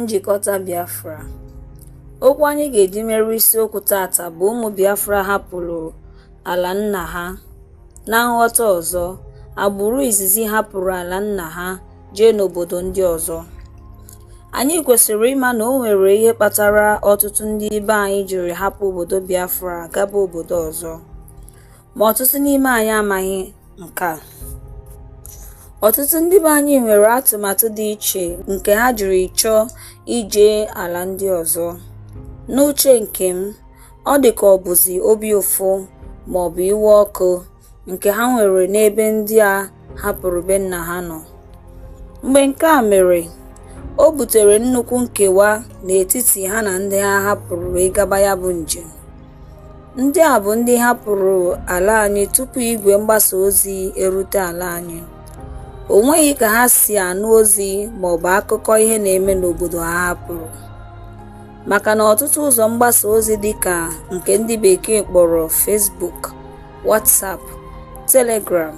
Njikọta Biafra Okwu anyị ga-eji mere isiokwu tata bụ ụmụ Biafra hapụrụ ala nna ha. Na nghọta ọzọ, agbụrụ izizi hapụrụ ala nna ha jee n'obodo ndị ọzọ. Anyị kwesịrị ịma na o nwere ihe kpatara ọtụtụ ndị ibe anyị jiri hapụ obodo Biafra gaba obodo ọzọ. ma ọtụtụ n'ime anyị amaghị nke a ọtụtụ ndị be anyị nwere atụmatụ dị iche nke ha jiri chọọ ije ala ndị ọzọ n'uche nke m ọ dị ka ọ bụzi obi ụfụ ma ọ bụ iwe ọkụ nke ha nwere n'ebe ndị a hapụrụ be nna ha nọ. Mgbe nke a mere, o butere nnukwu nkewa n'etiti ha na ndị ha hapụrụ wee gaba ya bụ njem. Ndị a bụ ndị hapụrụ ala anyị tupu igwe mgbasa ozi erute ala anyị. O nweghị ka ha si anụ ozi maọbụ akụkọ ihe na-eme n'obodo ha hapụrụ. Maka na ọtụtụ ụzọ mgbasa ozi dịka nke ndị bekee kpọrọ Facebook WhatsApp, Telegram,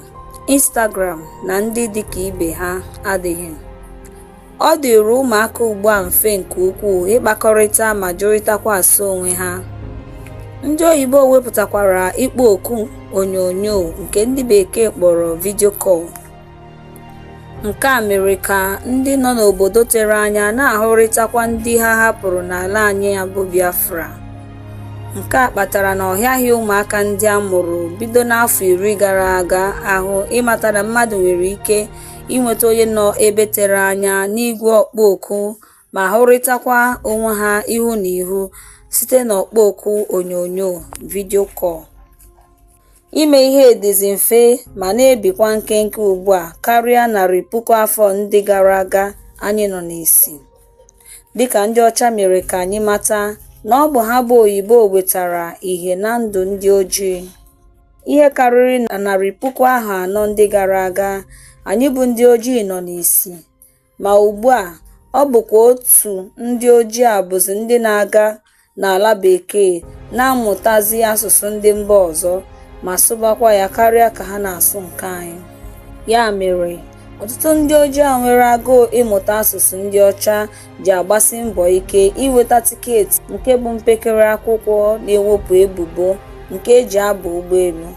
Instagram na ndị dị ka ibe ha adịghị. Ọ dịịrị ụmụaka ugbu a mfe nke ukwuu ịkpakọrịta ma jụrịtakwa ase onwe ha. Ndị oyibo wepụtakwara ịkpọ oku onyonyo nke ndị bekee kpọrọ video call. Nke a mere ka ndị nọ n'obodo tere anya na-ahụrịtakwa ndị ha hapụrụ n'ala anyị ya bụ Biafra. Nke a kpatara na ọ hịaghị ụmụaka ndị a mụrụ bido n'afọ iri gara aga ahụ ịmata na mmadụ nwere ike inweta onye nọ ebe tere anya n'igwe ọkpọ oku ma hụrịtakwa onwe ha ihu na ihu site n'ọkpọ oku onyonyo video call. Ime ihe dịzi mfe ma na-ebikwa nkenke ugbu a karịa narị puku afọ ndị gara aga anyị nọ n'isi. Dịka ndị ọcha mere ka anyị mata na ọ bụ ha bụ oyibo wetara ihe na ndụ ndị ojii. Ihe karịrị narị puku ahọ anọ ndị gara aga, anyị bụ ndị ojii nọ n'isi. Ma ugbu a, ọ bụkwa otu ndị ojii a bụzi ndị na-aga n'ala bekee na-amụtazi asụsụ ndị mba ọzọ ma sụbakwa ya karịa ka ha na-asụ nke anyị. Ya mere, ọtụtụ ndị ojii a nwere agụụ ịmụta asụsụ ndị ọcha ji agbasi mbọ ike inweta tiketi nke bụ mpekere akwụkwọ na-ewepụ ebubo nke e ji aba ụgbọelu.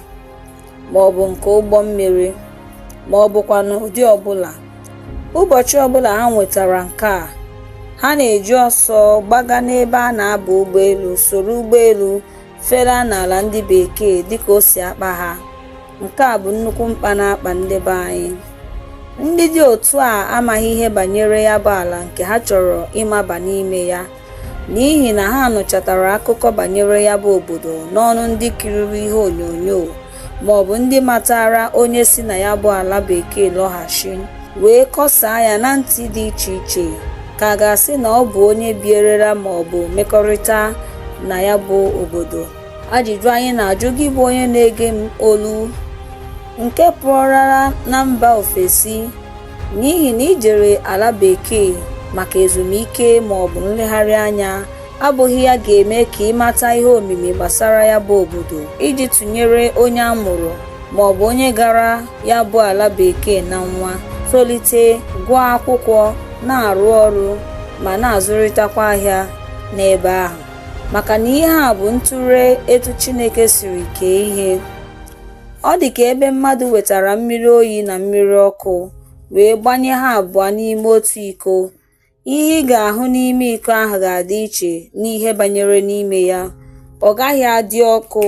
ma ọ bụ nke ụgbọ mmiri ma ọ bụkwanụ ụdị ọbụla ụbọchị ọbụla ha nwetara nke a ha na-eji ọsọ gbaga n'ebe a na-aba ụgbọelu soro ụgbọelu felaa n'ala ndị bekee dịka o si akpa ha nke a bụ nnukwu mkpa na-akpa ndị be anyị ndị dị otu a amaghị ihe banyere ya bụ ala nke ha chọrọ ịmaba n'ime ya n'ihi na ha nụchatara akụkọ banyere ya bụ obodo n'ọnụ ndị kiriri ihe onyonyo ma ọ bụ ndị matara onye si na ya bụ ala bekee lọghachi wee kọsaa ya na ntị dị iche iche ka a ga-asị na ọ bụ onye bierela ma ọ bụ mekọrịta na ya bụ obodo ajụjụ anyị na-ajụ gị bụ onye na-ege m olu nke pụọrara na mba ofesi N'ihi na i jere ala bekee maka ezumike ma ọ bụ nlegharị anya abụghị ya ga-eme ka ị mata ihe omimi gbasara ya bụ obodo iji tụnyere onye a mụrụ ma ọ bụ onye gara ya bụ ala bekee na nwa tolite gụọ akwụkwọ na-arụ ọrụ ma na-azụrịtakwa ahịa n'ebe ahụ maka na ihe a bụ ntụre etu Chineke siri kee ihe Ọ dị ka ebe mmadụ wetara mmiri oyi na mmiri ọkụ wee gbanye ha abụọ n'ime otu iko. Ihe ị ga-ahụ n'ime iko ahụ ga-adị iche n'ihe banyere n'ime ya. Ọ gaghị adị ọkụ,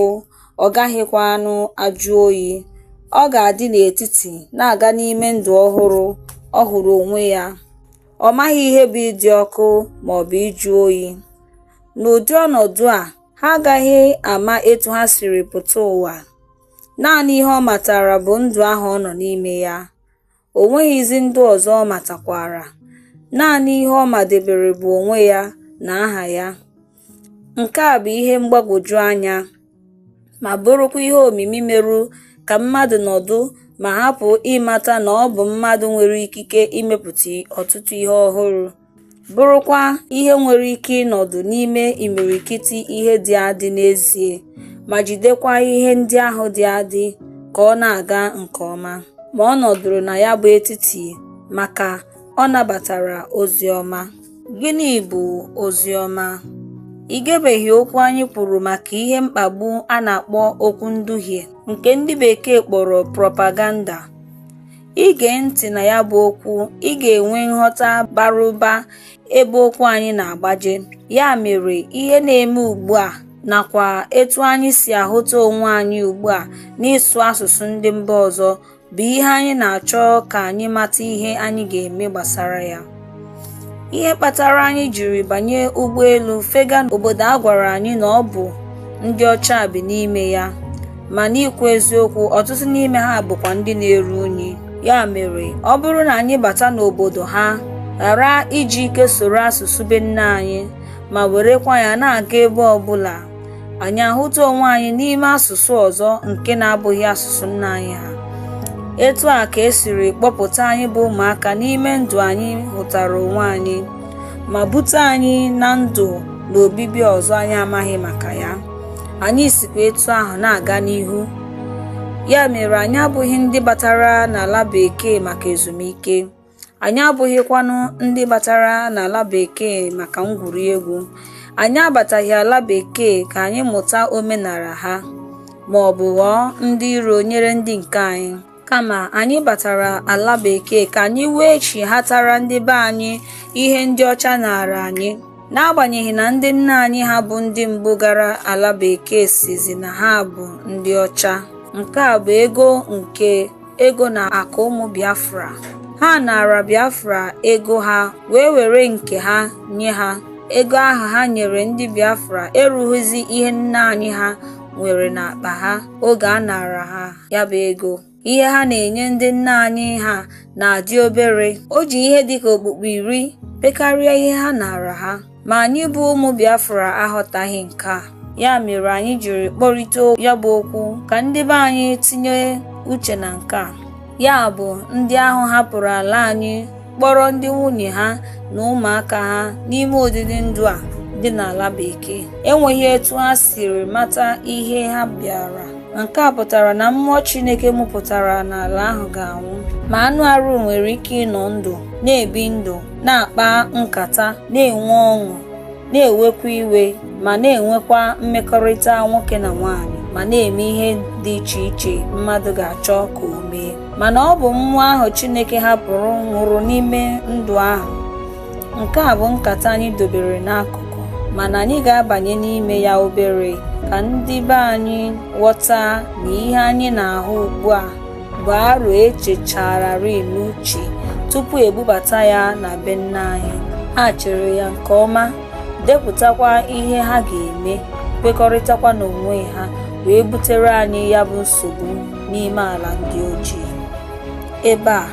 ọ gaghịkwanụ ajụ oyi. Ọ ga-adị n'etiti na-aga n'ime ndụ ọhụrụ ọ hụrụ onwe ya. Ọ maghị ihe bụ ịdị ọkụ ma ọ bụ ịjụ oyi. N'ụdị ọnọdụ a, Ha agaghị ama etu ha siri pụta ụwa. Naanị ihe ọ matara bụ ndụ ahụ ọ nọ n'ime ya. O nweghịzi ndụ ọzọ ọ matakwara. Naanị ihe ọ madebere bụ onwe ya na aha ya. Nke a bụ ihe mgbagwoju anya ma bụrụkwa ihe omimi meru ka mmadụ nọdụ ma hapụ ịmata na ọ bụ mmadụ nwere ikike imepụta ọtụtụ ihe ọhụrụ. bụrụkwa ihe nwere ike ịnọdụ n'ime imirikiti ihe dị adị n'ezie ma jidekwa ihe ndị ahụ dị adị ka ọ na-aga nke ọma. Ma ọ nọdụrụ na ya bụ etiti maka ọ nabatara ozi ọma. Gịnị bụ ozi ọma? I gebeghị okwu anyị kwuru maka ihe mkpagbu a na-akpọ okwu nduhie nke ndị Bekee kpọrọ propaganda. I gee ntị na ya bụ okwu, ị ga-enwe nghọta bara ụba ebe okwu anyị na-agbaje. Ya mere, ihe na-eme ugbu a nakwa etu anyị si ahụta onwe anyị ugbu a n'ịsụ asụsụ ndị mba ọzọ bụ ihe anyị na-achọ ka anyị mata ihe anyị ga-eme gbasara ya. ihe kpatara anyị jiri banye ụgbọelu fega obodo a gwara anyị na ọ bụ ndị ọcha bi n'ime ya ma n'ikwu eziokwu ọtụtụ n'ime ha bụkwa ndị na-eru unyi ya mere ọ bụrụ na anyị bata n'obodo ha ghara iji ike soro asụsụ be nna anyị ma werekwa ya na-aga ebe ọbụla anyị ahụta onwe anyị n'ime asụsụ ọzọ nke na-abụghị asụsụ nna anyị ha etu a ka esiri kpọpụta anyị bụ ụmụaka n'ime ndụ anyị hụtara onwe anyị ma bute anyị na ndụ na obibi ọzọ anyị amaghị maka ya anyị sikwa etu ahụ na-aga n'ihu ya mere anyị abụghị ndị batara n'ala bekee maka ezumike Anyị abụghịkwanụ ndị batara n'ala Bekee maka ngwuri egwu. Anyị abataghị ala Bekee ka anyị mụta omenala ha ma ọ bụ ghọọ ndị iro nyere ndị nke anyị. Kama anyị batara ala Bekee ka anyị wee chighatara ndị be anyị ihe ndị ọcha naara anyị. N'agbanyeghị na ndị nna anyị ha bụ ndị mbụ gara ala Bekee sịzị na ha bụ ndị ọcha. Nke a bụ ego nke ego na akụ ụmụ Biafra. Ha naara Biafra ego ha wee were nke ha nye ha. Ego ahụ ha nyere ndị Biafra erughịzi ihe nna anyị ha nwere n'akpa ha oge a naara ha ya bụ ego. Ihe ha na-enye ndị nna anyị ha na-adị obere. O ji ihe dịka okpukpu iri pekarịa ihe ha naara ha. Ma anyị bụ ụmụ Biafra aghọtaghị nke a. Ya mere anyị jiri kpọrịta ya bụ okwu ka ndị be anyị tinye uche na nke a. Ya bụ ndị ahụ hapụrụ ala anyị kpọrọ ndị nwunye ha na ụmụaka ha n'ime ọdịdị ndụ a dị n'ala bekee enweghị etu ha siri mata ihe ha bịara nke a pụtara na mmụọ Chineke mụpụtara n'ala ahụ ga-anwụ ma anụ arụ nwere ike ịnọ ndụ na-ebi ndụ na-akpa nkata na-enwe ọṅụ na-ewekwa iwe ma na-enwekwa mmekọrịta nwoke na nwaanyị ma na-eme ihe dị iche iche mmadụ ga-achọ ka o mee mana ọ bụ mmụọ ahụ Chineke hapụrụ nwụrụ n'ime ndụ ahụ nke a bụ nkata anyị dobere n'akụkụ mana anyị ga-abanye n'ime ya obere ka ndị be anyị ghọta na ihe anyị na-ahụ ugbu a bụ aro echechararị n'uche tupu ebubata ya na be nna anyị ha chere ya nke ọma depụtakwa ihe ha ga-eme kwekọrịtakwa n'onwe ha wee butere anyị ya bụ nsogbu n'ime ala ndị ojii ebe a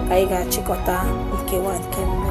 ka anyị ga-achịkọta nkewa nke mbụ